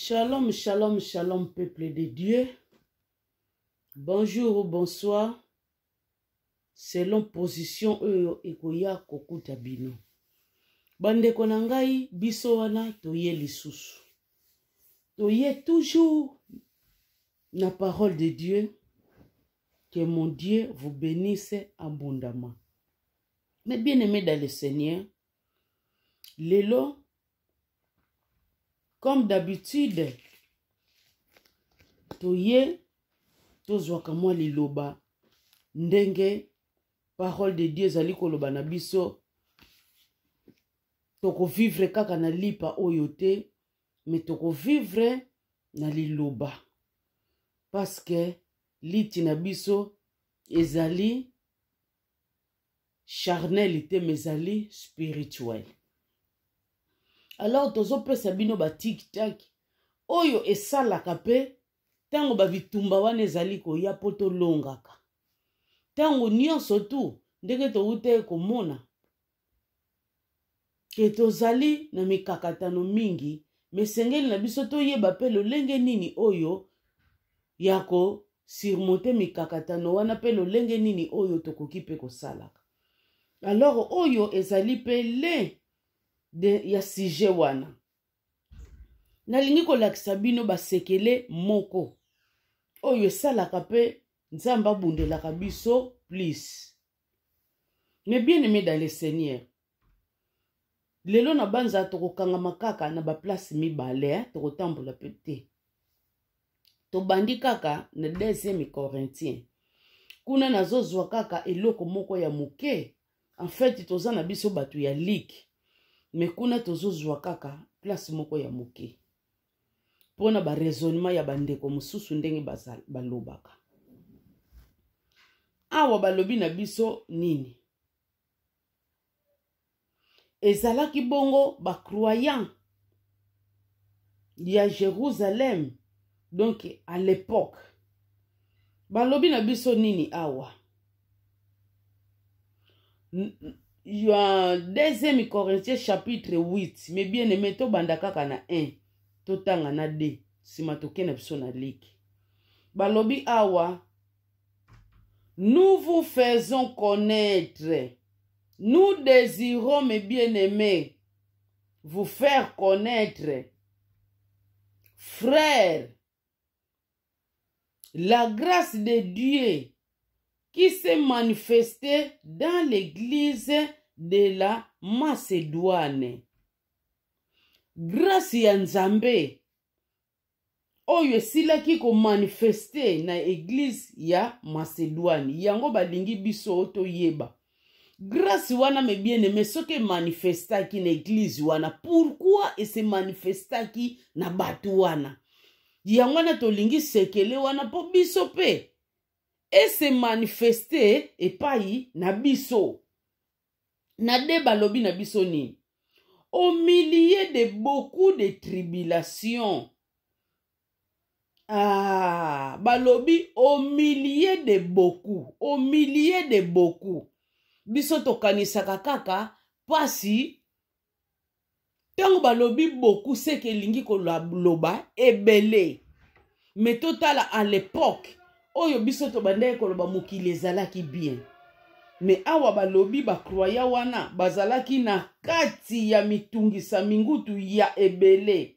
Shalom, shalom, shalom, peuple de Dieu. Bonjour ou bonsoir. Selon position oyo ekoya kokuta bino. Bandeko na ngai biso wana toye lisusu. Toye toujours na parole de Dieu. Que mon Dieu vous bénisse abondamment. Mais bien aimé dans le Seigneur, lelo comme d'habitude toye tozwaka mwa liloba ndenge parole de dieu ezali koloba na biso tokovivre kaka na lipa oyo te me tokovivre na liloba paske liti na biso ezali charnel te mais ezali spirituel alors tozopesa bino batiktak oyo esalaka mpe ntango babitumba wana ezali koya mpo tolongaka ntango nyonso tu ndenge towutaki komona ke tozali na mikakatano mingi mesengeli na biso toyeba mpe lolenge nini oyo ya kosurmonte mikakatano wana mpe lolenge nini oyo tokoki mpe kosalaka alors oyo ezali mpe le de, ya sujet wana nalingi kolakisa bino basekele moko oyo esalaka mpe nzambe abundelaka biso plus mais bien aimé dans le seigneur lelo na banza tokokangama kaka na baplace mibale eh? tokotambola mpe te tobandi kaka na deuxième corinthien kuna nazozwa kaka eloko moko ya moke en fait toza na biso bato ya ligue me kuna tozozwa kaka place moko ya moke mpo na baraisonnement ya bandeko mosusu ndenge balobaka awa balobi na biso nini ezalaki bongo bacroyant ya jérusalem donc à l'époque balobi na biso nini awa ya deuxième corinthiens chapitre 8 mais bien aimé tobanda kaka na 1 totanga na 2 nsima toke na biso na leki balobi awa nous vous faisons connaître nous désirons mes bien aimé vous faire connaître frères La grâce de Dieu qui s'est manifestée dans l'église de la Macédoine. Grâce ya Nzambe oyo esilaki komanifeste na eglize ya macedoine yango balingi biso toyeba grâce wana me bien aime soki emanifestaki na eglize wana pourkui ese manifestaki na bato wana yango wana tolingi sekele wana mpo biso mpe ese manifeste epai na biso na de balobi na biso nini au milieu de beaucoup de tribulations ah, balobi au milieu de beaucoup au milieu de beaucoup biso tokanisaka kaka mpasi ntango balobi beaucoup seke elingi koloba ebele me totala à l'époque oyo biso tobandaki koloba mokili ezalaki bien me awa balobi bakroya wana bazalaki na kati ya mitungisa mingutu ya ebele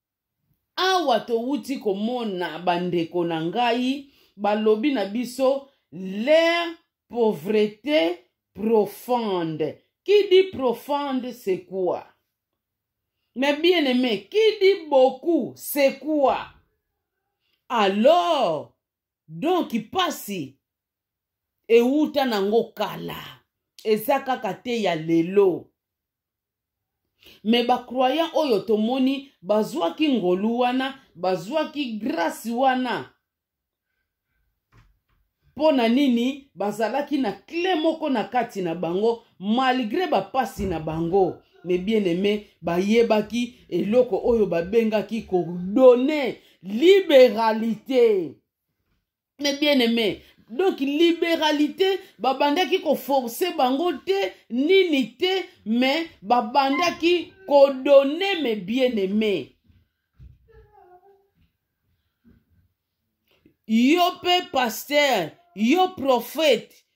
awa towuti komona bandeko na ngai balobi na biso leur pauvrete profonde qui dit profonde c'est quoi mais bien aimé qui dit beaucoup c'est quoi alors donki mpasi ewuta nango kala eza kaka te ya lelo me bacroyant oyo tomoni bazwaki ngolu wana bazwaki grâce wana mpo na nini bazalaki na kle moko na kati na bango malgre bapasi na bango me bien aime bayebaki eloko oyo babengaki kodone liberalité mais bien aimé donc liberalité babandaki koforce bango te nini te mais babandaki kodone me bien aimé yo mpe pasteur yo prophète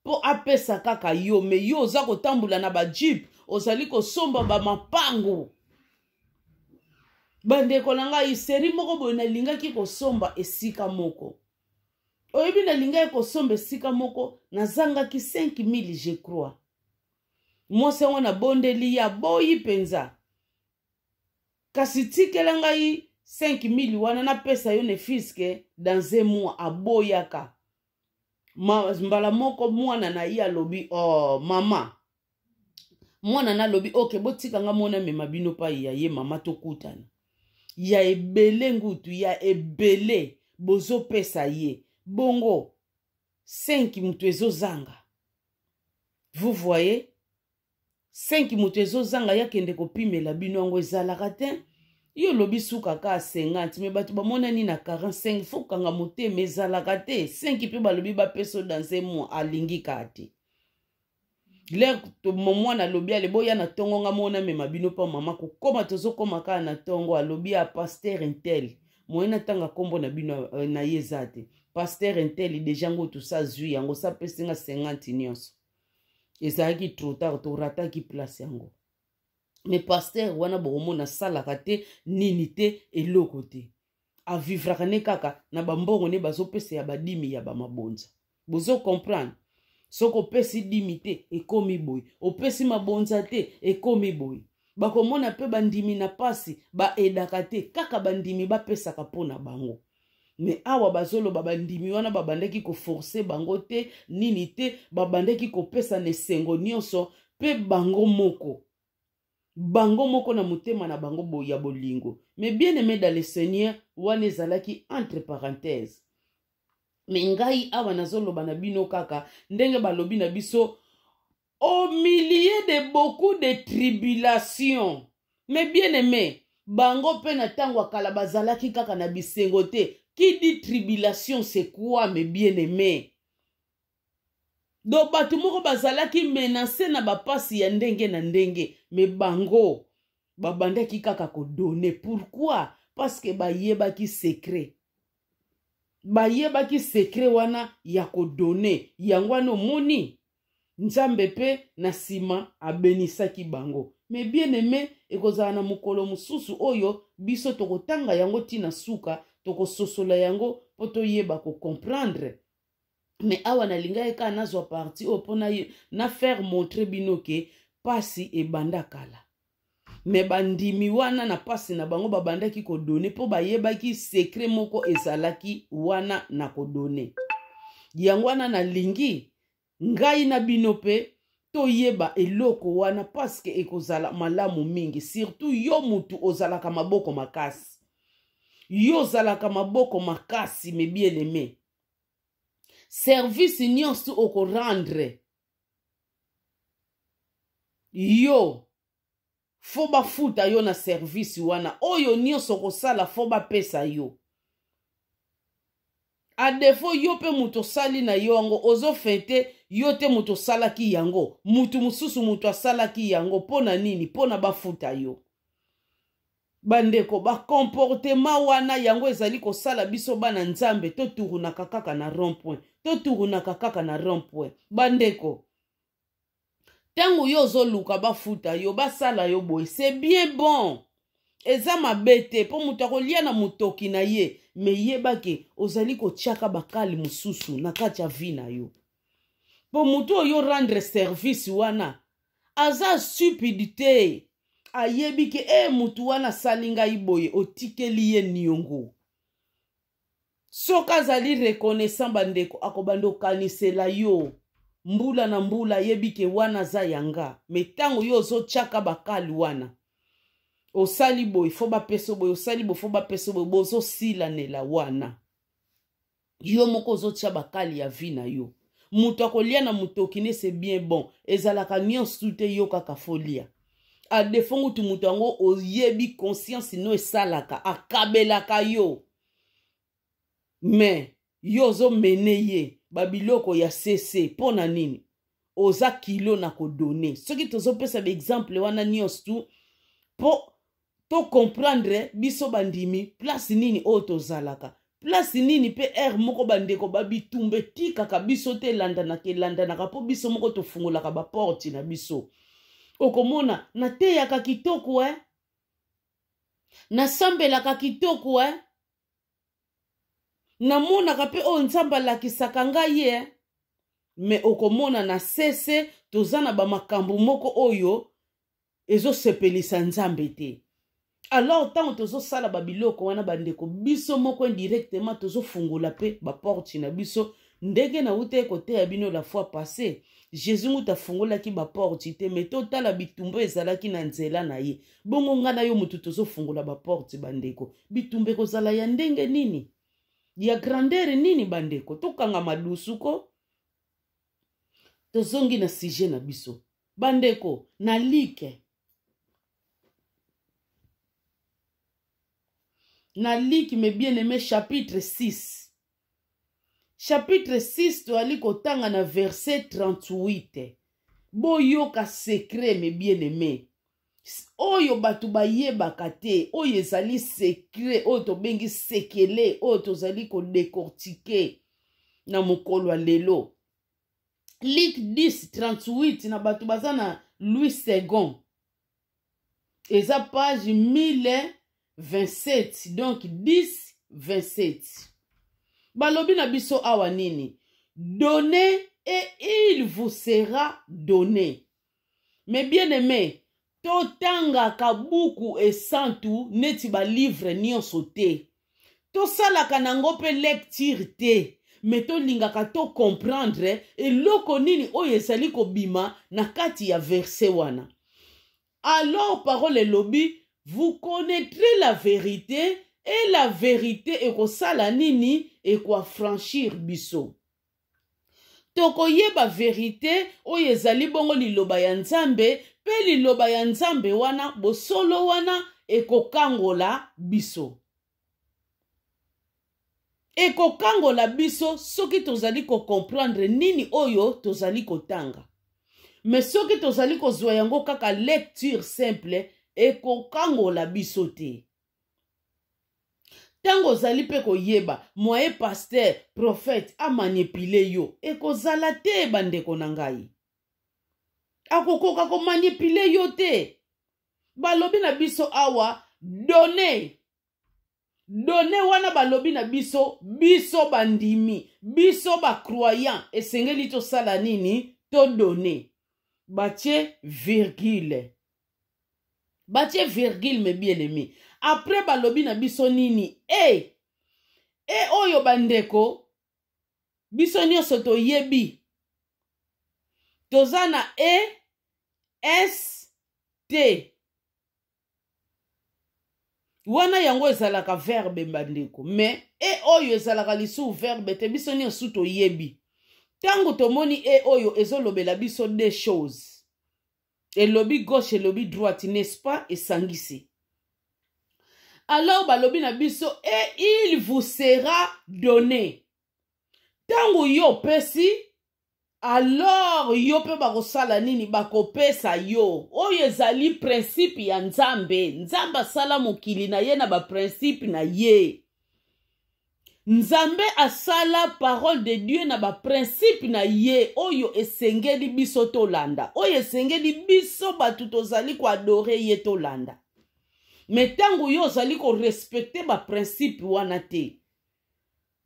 mpo apesa kaka yo me yo oza kotambola na bajipe ozali kosomba bamapango bandeko na ngai seri moko boye nalingaki kosomba esika moko oyebi nalingaki kosomba esika moko nazangaki 5000 je crois mwasi yango nabondeli ye aboyi mpenza kasi tikela ngai 5000 wana napesa yo ne fiske dans un mois aboyaka Ma, mbala moko mwana na ye alobi oh, mama mwana na alobi oke botika nga mwana mema bino pai ya ye mama tokutana ya ebele ngutu ya ebele bozopesa ye bongo 5 moto ezozanga vous voyez 5 moto ezozanga ya kende kopimela bino yango ezalaka te yo olobi suka ka 50 me bato bamonani na 45 fo kanga motema ezalaka te 5 mpe balobi bapeso danse mwa alingi kaa te lere mwana alobi ale boya na ntongo nga mona mema bino mpo mama kokoma tozokoma kaka na ntongo alobi ya paster intel moyen atanga nkombo na bino eh, na ye eza te paster intel deja ngo tosa zwi yango sapesi nga 50 nyonso ezalaki trop tard torataki place yango mais paster wana bokomona asalaka te nini te eloko te avivraka ne kaka na bambongo ne bazopesa ya badimi ya bamabonza bozo comprendre soki opesi dimi te ekomi boye opesi mabonza te ekomi boye bakomona mpe bandimi na mpasi baedaka te kaka bandimi bapesaka mpo na bango me awa bazoloba bandimi wana babandaki koforce bango te nini te babandaki kopesa na esengo nyonso mpe bango moko bango moko na motema na bango bo ya bolingo me bien aime dans le seigneur wana ezalaki entre parenthèse me ngai awa nazoloba na bino kaka ndenge balobi na biso au milieu de beaucoup de tribulation mais bien aimé bango mpe na ntango ya kala bazalaki kaka na bisengo te qui dit tribulation c'est quoi mais bien aimé donc bato moko bazalaki menase na bapasi ya ndenge na ndenge me bango babandaki kaka kodone pourquoi parce que bayebaki secret bayebaki sekre wana ya kodone yango wana omoni nzambe mpe na nsima abenisaki bango me bien aime ekozala na mokolo mosusu oyo biso tokotanga yango ti na suka tokososola yango mpo toyeba kocomprendre me awa nalingaki kaka nazwa parti oyo mpo na faire montre bino ke mpasi ebanda kala me bandimi wana na mpasi na bango babandaki kodone mpo bayebaki sekre moko ezalaki wana na kodone yango wana nalingi ngai na bino mpe toyeba eloko wana paske ekozala malamu mingi surtout yo mutu ozalaka maboko makasi yo ozalaka maboko makasi mebieleme service nyonso okorendre yo fo bafuta yo na service wana oyo nyonso okosala fo bapesa yo adefo yo mpe moto osali na yo yango ozofete yo te moto osalaki yango moto mosusu moto asalaki yango mpo na nini mpo na bafuta yo bandeko bakomportema wana yango ezali kosala biso bana nzambe toturunaka kaka na rond point toturunaka kaka na rond point bandeko ntango yo ozoluka bafuta yo basala yo boye se bien bon eza mabe te mpo moto akolia na motoki na ye me yebake ozali kotyaka bakali mosusu na kati ya vi na yo mpo moto oyo rendre service wana aza stupide te ayebi ke e eh, motu wana asali ngai boye otikeli ye niongo soki azali reconnaissant bandeko akobanda okanisela yo mbula na mbula ayebi ke wana aza yanga me ntango yo ozotyaka bakali wana osali boye fo bapesa boye osali boye fo bapesa boye bozosilanela wana yo moko ozotia bakali ya vi na yo moto akolia na motoki ne se bien bon ezalaka nyonso te yo kaka folia adefo ngutu moto yango oyebi conscience no esalaka akabelaka yo me yo ozomene ye babiloko ya sese mpo na nini oza kilo na kodone soki tozopesa baexemple wana nyonso tu mpo to comprendre biso bandimi place nini oyo tozalaka place nini mpe heure moko bandeko babitumba etikaka biso te elandanaka elandanaka mpo biso moko tofungolaka baporte na biso okomona nateyaka kitoko eh? nasambelaka kitoko eh? namonaka mpe oyo nzambe alakisaka ngai ye eh? me okomona na sese toza na bamakambo moko oyo ezosepelisa nzambe te alors ntango tozosala babiloko wana bandeko biso moko indirectement tozofungola mpe baporte na biso ndenge nautaki koteya bino la fois passe jésus nguta afungolaki baporte te me totala bitumba ezalaki na nzela na ye bongo ngai na yo motu tozofungola baporte bandeko bitumba ekozala ya ndenge nini ya grandeur nini bandeko tokanga madusu ko tozongi na sujet na biso bandeko na like na like mes bien aimé chapitre 6 chapitre 6 toyali kotanga na verset 38 boyoka secret mes bien aimé oyo bato bayebaka te oyo ezali secret oyo tobengi sekele oyo tozali kodecortike na mokolo ya lelo lik 10 38 na bato baza na louis second eza page 1027 donc 10 27 balobi na biso awa nini donne et il vous sera donne me bien aime totangaka buku esantu neti balivre nyonso te tosalaka nango mpe lecture te me tolingaka tocomprendre eloko nini oyo ezali kobima na kati ya verse wana alors parole elobi vous connaîtrez la vérité e la vérité ekosala nini ekoafranchir biso tokoyeba verite oyo ezali bongo liloba ya nzambe mpe liloba ya nzambe wana bosolo wana ekokangola biso ekokangola biso soki tozali kokomprendre nini oyo tozali kotanga me soki tozali kozwa yango kaka lecture simple ekokangola biso te ntango ozali mpe koyeba mwaye paster profete amanipile yo ekozala te bandeko na ngai akokoka komanipile yo te balobi na biso awa done done wana balobi na biso biso bandimi biso bacroyant esengeli tosala nini todone batie virgule batie virgule me bien aimé après balobi na biso nini e hey! e hey, oyo bandeko biso nyonso toyebi toza na e s t wana yango ezalaka verbe bandeko me e oyo ezalaka lisusu verbe te biso nyonso toyebi ntango tomoni e oyo ezolobela biso de choses elobi gauche elobi droite n'est-ce pas esangisi alors balobi na biso et il vous sera donné ntango yo opesi alors yo mpe bakosala nini bakopesa yo oyo ezali principe ya nzambe nzambe asala mokili na ye na baprincipe na ye nzambe asala parole de dieu na baprincipe na ye oyo esengeli biso tolanda oyo esengeli biso bato tozali koadore ye tolanda me ntango yo ozali korespecte baprincipe wana te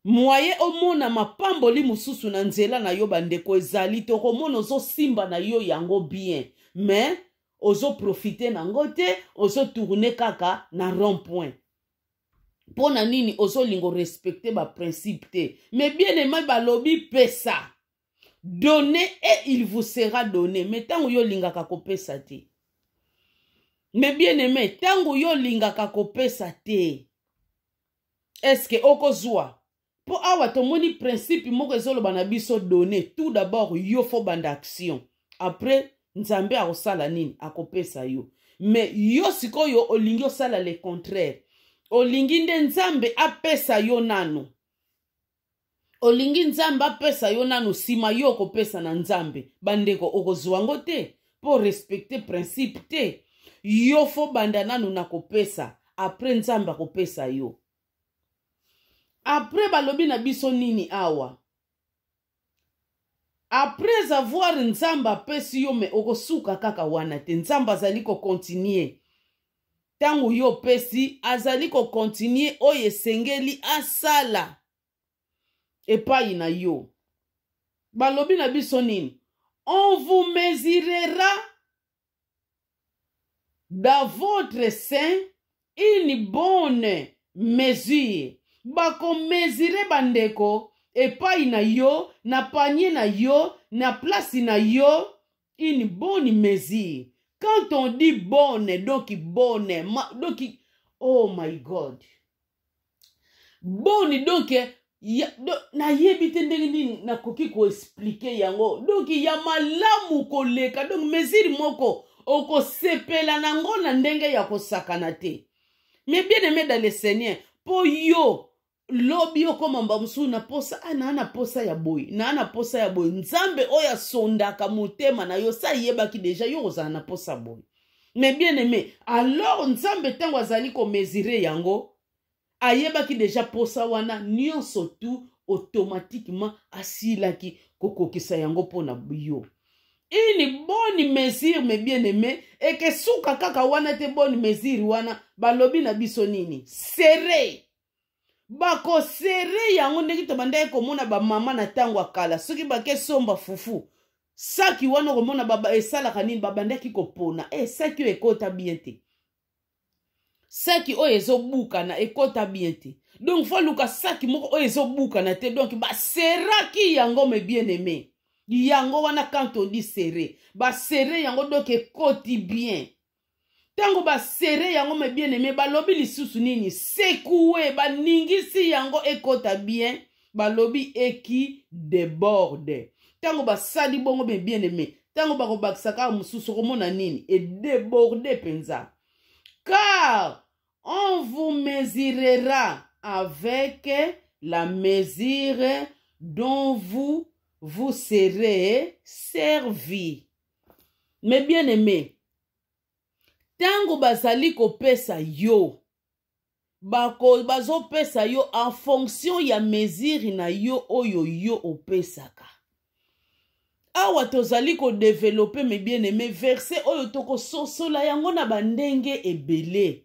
mwaye omona mapamboli mosusu na nzela na yo bandeko ezali te okomona ozosimba na yo yango bien me ozoprofite na yango te ozotourne kaka na rond point mpo na nini ozolinga orespecte baprincipe te me bien aime balobi pesa donne et il vous sera donne me ntango yo olingaka kopesa te me bien aime ntango yo olingaka kopesa te eske okozwa mpo awa tomoni principe moko ezoloba na biso donne tout d'abord yo fo banda action après nzambe akosala nini akopesa yo me yo sikoyo olingi osala le contraire olingi nde nzambe apesa yo nano olingi nzambe apesa yo nano nsima yo okopesa na nzambe bandeko okozwa yango te mpo respecte principe te yo fo banda nano na kopesa apres nzambe akopesa yo après balobi na biso nini awa après avoir nzambe apesi yo me okosuka kaka wana te nzambe azali kokontinue ntango yo opesi azali kokontinue oyo esengeli asala epai na yo balobi na biso nini on vous mesurera dans votre sein une bonne mesure bakomezire bandeko epai na yo na panie na yo na place na yo une bonne mesure quand on dit bonne donc bonne ma, donc oh my god boni donc ya, do, nayebi te ndenge nini nakoki koexplike yango donc ya malamu koleka donc mesure moko okosepela na ngo na ndenge ya kosakana te mais bien aimé dans le seigneur mpo yo lobi okoma mba mosusu na posa a ah, naa na posa ya boye naa na posa ya boye nzambe oyo asondaka motema na yo sa ayebaki deja yo kozala na posa boye me bien aime alors nzambe ntango azali komesire yango ayebaki deja mposa wana nyonso tu automatiquement asilaki kokokisa yango mpo na yo une bonne mesure me bien aime ekesuka kaka wana te bonne mesure wana balobi na biso nini sere bakosere yango ndenge tobandaki komona bamama na ntango ya kala soki bake somba fufu saki wana okomona baba esalaka nini babandaki kopona e saki oyo ekota bien te saki oyo ezobukana ekota bien te donc foluka saki moko oyo ezobukana te donc baseraki yango me bien aime yango wana quand odi sere basere yango donc ekoti bien ntango basere yango me bien aime balobi lisusu nini sekue baningisi yango ekota bien balobi eki deborde ntango basali bongo me bien aime ntango bakobakisa kaka mosusu okomona nini edeborde mpenza car on vous mesurera avec la mesure dont vous vous serez servi me bien aime ntango bazali kopesa yo bazopesa yo en fonction ya mesure na yo oyo yo opesaka awa tozali kodevelope me bien aime verse oyo tokososola yango na bandenge ebele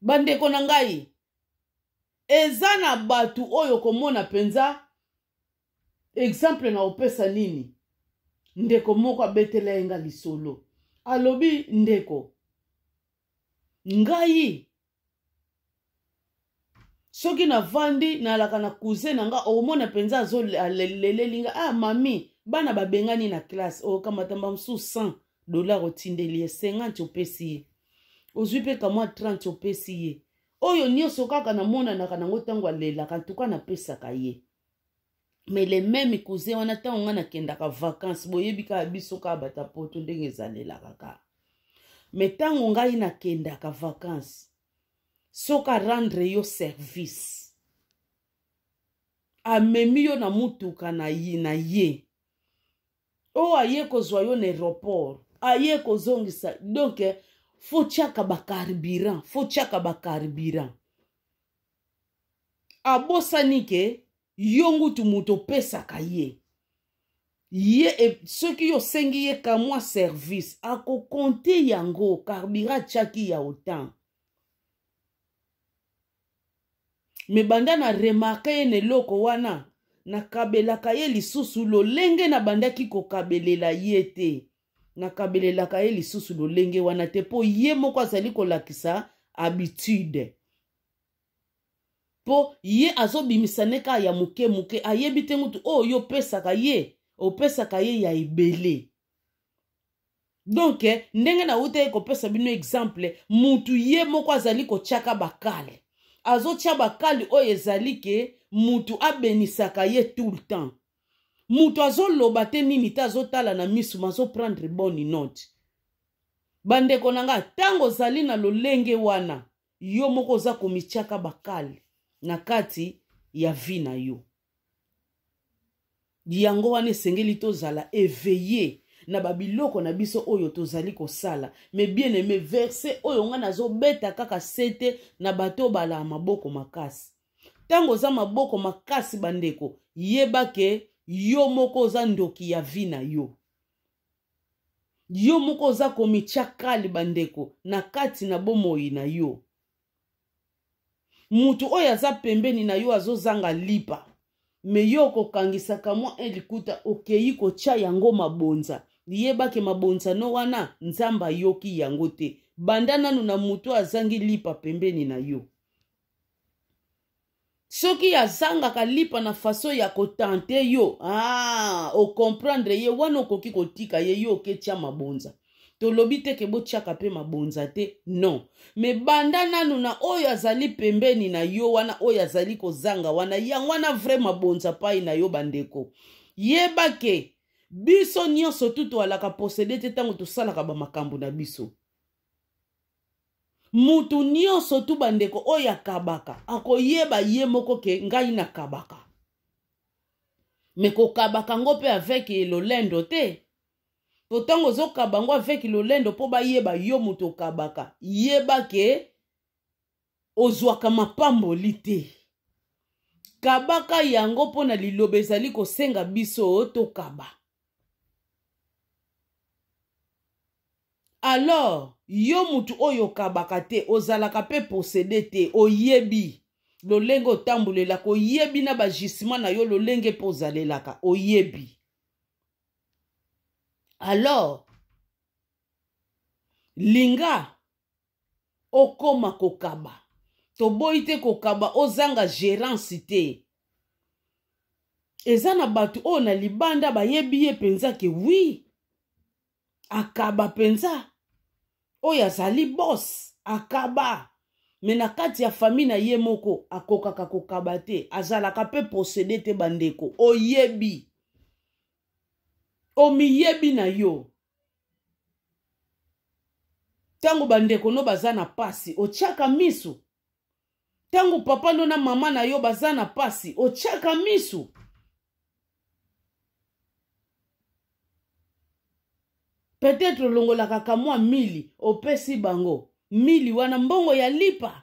bandeko na ngai eza na bato oyo okomona mpenza exemple na opesa nini ndeko moko abetela ye nga lisolo alobi ndeko ngai soki navandi nalaka na cousin na nga omona mpenza azoleleli nga ah mami bana babengani na classe okamata oh, bamosusu 100 dollar otindeli ye 50 opesi ye ozwi mpe kamwa 30 opesi ye oyo nyonso kaka namonanaka nango ntango alelaka ntuka napesaka ye mais le meme cousin wana ntango ngai nakendaka vacances boyebi kaka biso kaka bata poto ndenge ezalelaka kaka mais ntango ngai nakendaka vacances soki arendre yo service amemi yo na motuka na ye, na ye. oyo aye kozwa yo na aéroport aye kozongisa donk eh, fotyaka bacarburant fotyaka bacarburant abosani ke yo ngutu moto opesaka ye ye e, soki osengi ye kamwa service akokonte yango karbira atyaki ya otan me banda na remarke ye na eloko wana nakabelaka ye lisusu lolenge nabandaki kokabelela ye te nakabelelaka ye lisusu lolenge wana te mpo ye moko azali kolakisa habitude mpo ye azobimisa ne kaka ya moke moke ayebi te ngutu oyo oh, yo opesaka ye opesaka ye ya ebele donk eh, ndenge nautaki kopesa bino exemple mutu ye moko azali kotyaka bakale azotya bakali oyo ezali ke mutu abenisaka ye tout le temps moto azoloba te nini te azotala na misu mazoprendre boni note bandeko na ngai ntango ozali na lolenge wana yo moko oza komityaka bakale na kati ya vi na yo yango wana esengeli tozala eveye na babiloko na biso oyo tozali kosala me bien aime verse oyo ngai nazobeta kaka sete na bato oyo balaa maboko makasi ntango oza maboko makasi bandeko yeba ke yo moko oza ndoki ya vi na yo yo moko oza komitya kali bandeko na kati na bomoi na yo moto oyo aza pembeni na yo azozanga lipa me yo okokangisaka mwa e likuta okei kotya yango mabonza yebake mabonzano wana nzambe ayoki yango te banda nanu na moto azangi lipa pembeni na yo soki azangaka lipa na faso ya kotante yo ah, okomprendre ye wana okoki kotika ye yo oketya mabonza tolobi te ke botyaka mpe mabonza te non me banda nanu na oyo azali pembeni na yo wana oyo azali kozanga wana yango wana vrai mabonza pai na yo bandeko yeba ke biso nyonso tu toalaka posede te ntango tosalaka bamakambo na biso mutu nyonso tu bandeko oyo akabaka akoyeba ye moko ke ngai nakabaka me kokabaka yango mpe avec lolendo te mpo ntango ozokaba yango avec lolendo mpo bayeba yo moto okabaka yeba ke ozwaka mapamboli te kabaka yango mpo na liloba ezali kosenga biso tokaba alors yo motu oyo okabaka te ozalaka mpe posede te oyebi lolenge otambolelaka oyebi na bagisement na yo lolenge mpe ozalelaka oyebi alors linga okoma kokaba toboyi te kokaba ozanga gerance te eza na bato oyo na libanda bayebi ye mpenza ke wi akaba mpenza oyo azali bos akaba me na kati ya fami na ye moko akokaka kokaba te azalaka mpe posede te bandeko oyebi omiyebi na yo ntango bandeko no baza na mpasi otyaka miso ntango papa no na mama na yo baza na mpasi otyaka miso peut-être olongolaka kamwa mili opesi bango mili wana mbongo ya lipa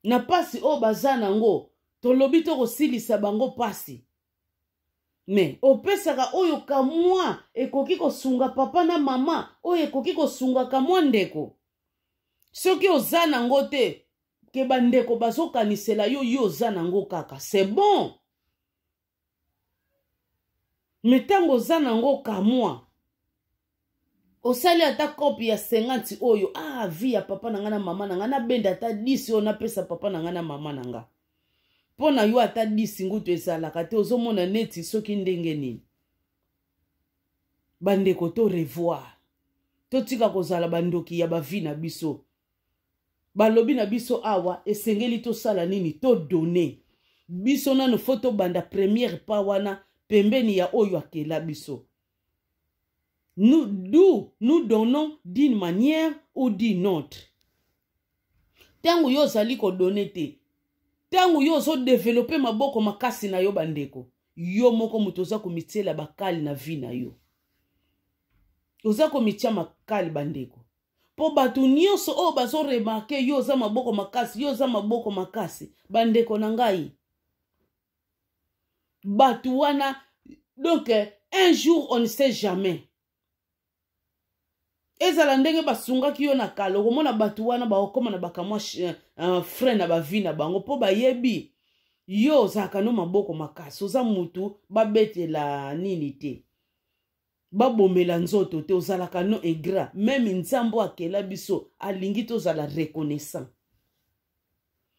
na mpasi oyo baza nango tolobi tokosilisa bango mpasi me opesaka oyo kamwa ekoki kosunga papa na mama oyo ekoki kosunga kamwa ndeko soki oza nango te ke bandeko bazokanisela yo yo oza nango kaka c'est bon me ntango oza nango okamwa osali ata cope ya 50 oyo a ah, vie ya papa na ngai na mama na ngai nabenda ata 10 oyo napesa papa na ngai na mama na ngai mpo na yo ata 10 ngutu ezalaka te ozomona neti soki ndenge nini bandeko to revoir totika kozala bandoki ya bavi na biso balobi na biso awa esengeli tosala nini todone biso nano fo tobanda première pa wana pembeni ya oyo akela biso nous, d'où nous donnons d'une manière ou d'une autre ntango yo ozali kodone te ntango yo ozodevelope maboko makasi na yo bandeko yo moko moto oza komityela bakali na vi na yo oza komitya makali bandeko mpo bato nyonso oyo bazoremarke yo oza maboko makasi yo oza maboko makasi bandeko na ngai bato wana donc un jour on ne sait jamais ezala ndenge basungaki yo na kala okomona bato wana bakokoma na bakamwa uh, frai na bavi na bango mpo bayebi yo ozalaka no maboko makasi oza motu babetela nini te babomela nzoto te ozalaka no egra meme nzambe akela biso alingi tozala reconnaissant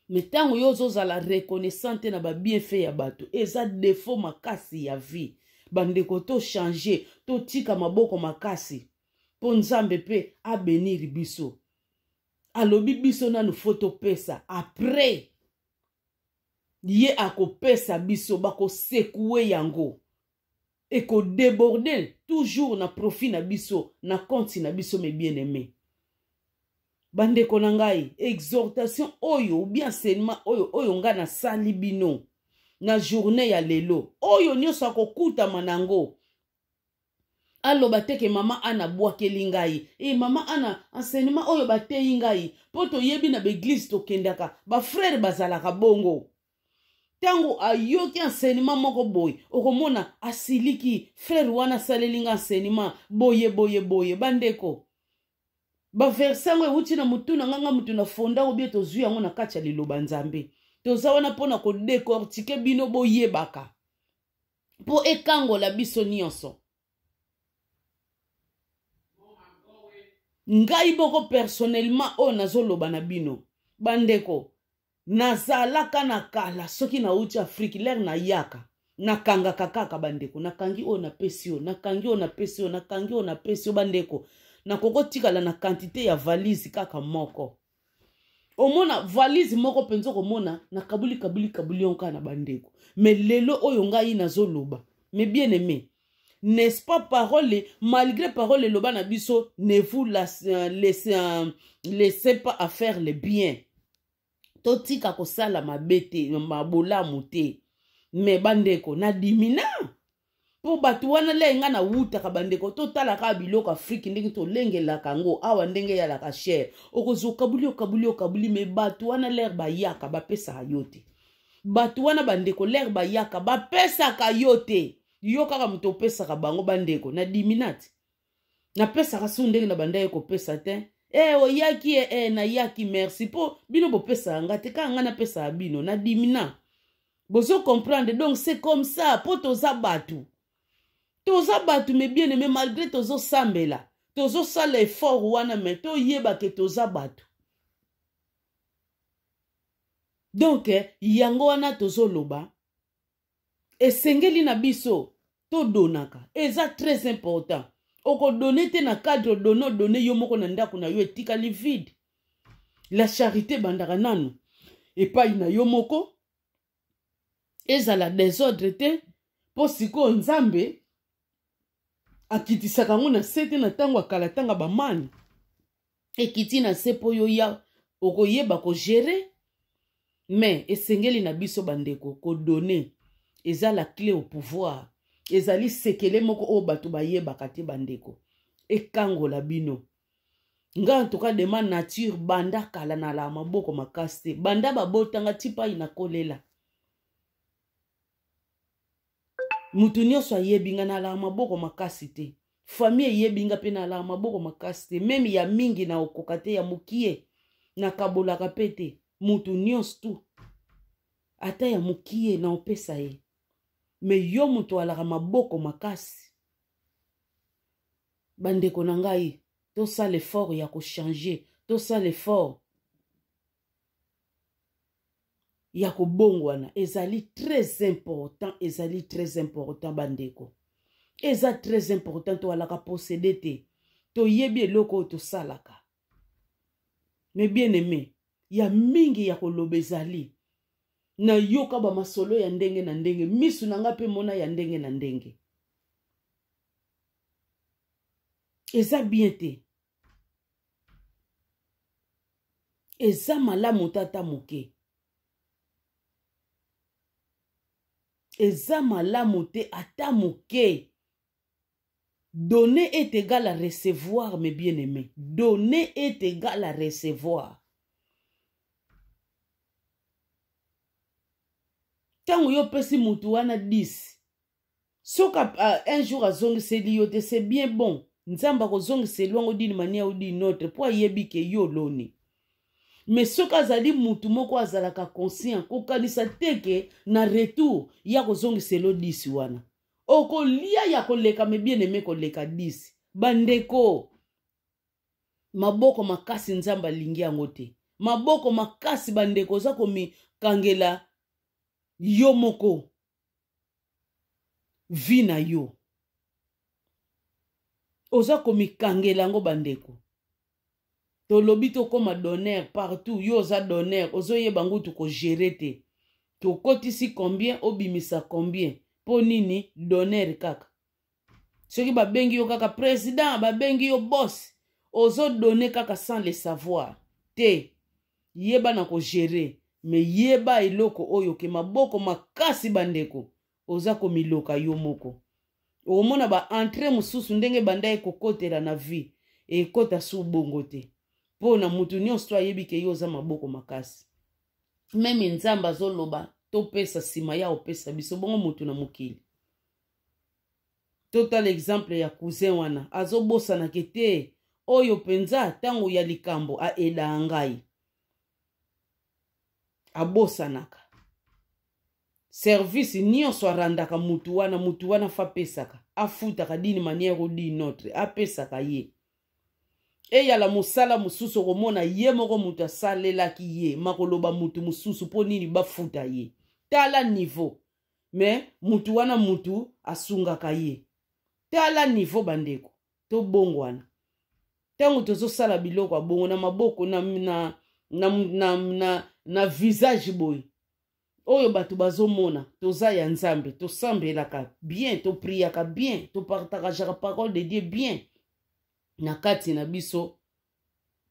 me ntango yo ozozala reconnaissant te na babienfait ya bato eza defaut makasi ya vie bandeko tochange totika maboko makasi mpo nzambe mpe abeniri biso alobi biso nanu fo topesa apres ye akopesa biso bakosekue yango eko deborder toujours na profit na biso na compte na biso mes bien aimé bandeko na ngai exhortation oyo ou bien enseignement oyo oyo ngai nasali bino na journée ya lelo oyo nyonso akokutama na yango aloba te ke mama ana abwakeli ngai e mama ana enseignement oyo bateyi ngai mpo toyebi na baeglize tokendaka bafrere bazalaka bongo ntango ayoki enseignement moko boye okomona asiliki frere wana asaleli nga enseignement boye boye boye bandeko baverse yango euti na motu na nganga motu na fonda yango bie tozwi yango na kati ya liloba nzambe toza wana mpo na kodekortike bino boyebaka mpo ekangola biso nyonso ngai boko personnellement oyo nazoloba na bino bandeko nazalaka na kala soki nauti afrike lere nayaka nakangaka kaka bandeko nakangi oyo napesi yo nakangi oyo napesi yo nakangi oyo napesi yo bandeko nakoki otikala na kantite ya valise kaka moko omona valise moko mpenza okomona nakabuli kabuli kabuli yango kaka na bandeko me lelo oyo ngai nazoloba me bien aime n'est-ce pas parole malgré parole eloba na biso ne vous euh, laissez, euh, laissez pas à faire le bien totika kosala mabe te mabolamu te me bandeko na dimina mpo bato wana lei ngai nawutaka bandeko totalaka biloko afriki ndenge tolengelaka yango awa ndenge eyalaka chere okozwa okabuli okabuli okabuli me bato wana lere bayaka bapesaka yo te bato wana bandeko lere bayaka bapesaka yo te yo kaka moto opesaka bango bandeko na diminati napesaka su ndenge na banda ye kopesa te e eh, oyaki e e nayaki merci mpo bino bopesaka nga te kaka ngai napesaka bino na dimina bozo comprendre donc c'est comme ça mpo toza bato toza bato me bien aime malgré tozosambela tozosala effort wana me toyeba ke toza bato donk eh, yango wana tozoloba esengeli na biso todonaka eza très important okodone te na cadre odone odone yo moko na ndako na yo etikali vide la charité ebandaka nanu epai na yo moko ezala desordre te mpo sikoyo nzambe akitisaka yango na se te na ntango ya kala ntanga bamani ekiti na se mpo yo ya okoyeba kogere me esengeli na biso bandeko kodone eza la cle au pouvoir ezali sekele moko oyo bato bayebaka te bandeko ekangola bino nga antuka dema nature banda kala na la maboko makasi te banda babotanga tipai na kolela moto nyonso ayebi nga nalaka maboko makasi te famille eyebi nga mpe nalaka maboko makasi te meme ya mingi na okoka te ya mokie nakabolaka mpe te moto nyonso tu ata ya mokie na opesa ye me yo moto alaka maboko makasi bandeko na ngai tosala effort ya kochange tosala effort ya kobongwana ezali très important ezali très important bandeko eza très important toalaka posede te toyebi eloko oyo tosalaka me bien aime ya mingi ya koloba ezali nayoka bamasolo ya ndenge na ndenge misu na ngai mpe mona ya ndenge na ndenge eza bien te eza malamu te ata moke eza malamu te ata moke donner est égal à recevoir mes bien aimés donner est égal à recevoir ntango yo opesi motu wana 10 soki uh, un jour azongiseli yo te c'est bien bon nzambe akozongiseli yango dini mania ou dini notre mpo ayebi ke yo oloni me soki azali mutu moko azalaka conscient kokanisa te ke na retour ye akozongiselo 10 wana okolia ya koleka me bien aime koleka 10 bandeko maboko makasi nzambe alingi yango te maboko makasi bandeko oza komikangela yo moko vi na yo oza komikangela yango bandeko tolobi tokóma donner partout yo oza donner ozoyeba ngutu kogere te tokotisi combien obimisa combien mpo nini donner kaka soki babengi yo kaka president babengi yo boss ozodone kaka sans le savoir te yeba na kogere me yeba eloko oyo ke maboko makasi bandeko oza komiloka yo moko okomona baentre mosusu ndenge ebandaki kokotela na vie ekota su bongo te mpo na moto nyonso to ayebi ke yo oza maboko makasi meme nzambe azoloba topesa nsima ya opesa biso bongo moto na mokili totala exemple ya cousin wana azobosanake te oyo mpenza ntango ya likambo aedaa ngai abosanaka service nyonso arandaka motu wana motu wana fa apesaka afutaka dini manière odi notre apesaka ye eyala mosala mosusu okomona ye moko moto asalelaki ye makoloba moto mosusu mpo nini bafuta ye tala niveau mais mutu wana mutu asungaka ye tala niveau bandeko tobongwana ntango tozosala biloko ya bongo na maboko na, na, na, na, na, na visage boye oyo bato bazomona toza ya nzambe tosambelaka bien topriaka bien topartagajaka parole de dieu bien na kati na biso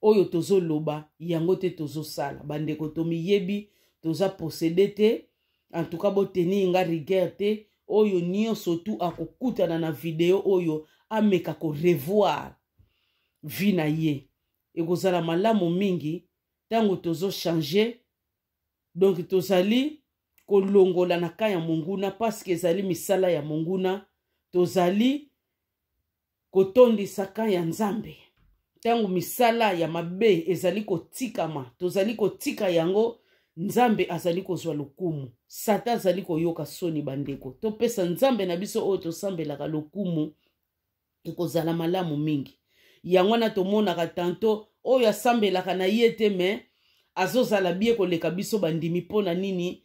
oyo tozoloba yango te tozosala bandeko tomiyebi toza posede te en tout cas boteni nga rigueur te oyo nyonso tu akokutana na video oyo ameka korevoir vie na ye ekozala malamu mingi ntango tozochange donk tozali kolongola na ka ya monguna parceke ezali misala ya monguna tozali kotondisa kan ya nzambe ntango misala ya mabe ezali kotikama tozali kotika yango nzambe azali kozwa lokumu satan azali koyoka soni bandeko topesa nzambe na biso oyo tosambelaka lokumu ekozala malamu mingi yango wana tomonaka tanto oyo asambelaka na ye te me azozala bie koleka biso bandimi mpo na nini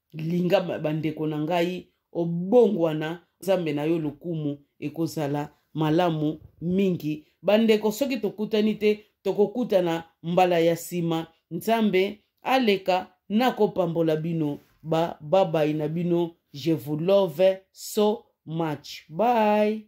linga bandeko na ngai obongwana nzambe na yo lokumu ekozala malamu mingi bandeko soki tokutani te tokokutana mbala ya nsima nzambe aleka nakopambola bino ba babai na bino je vous love so much bye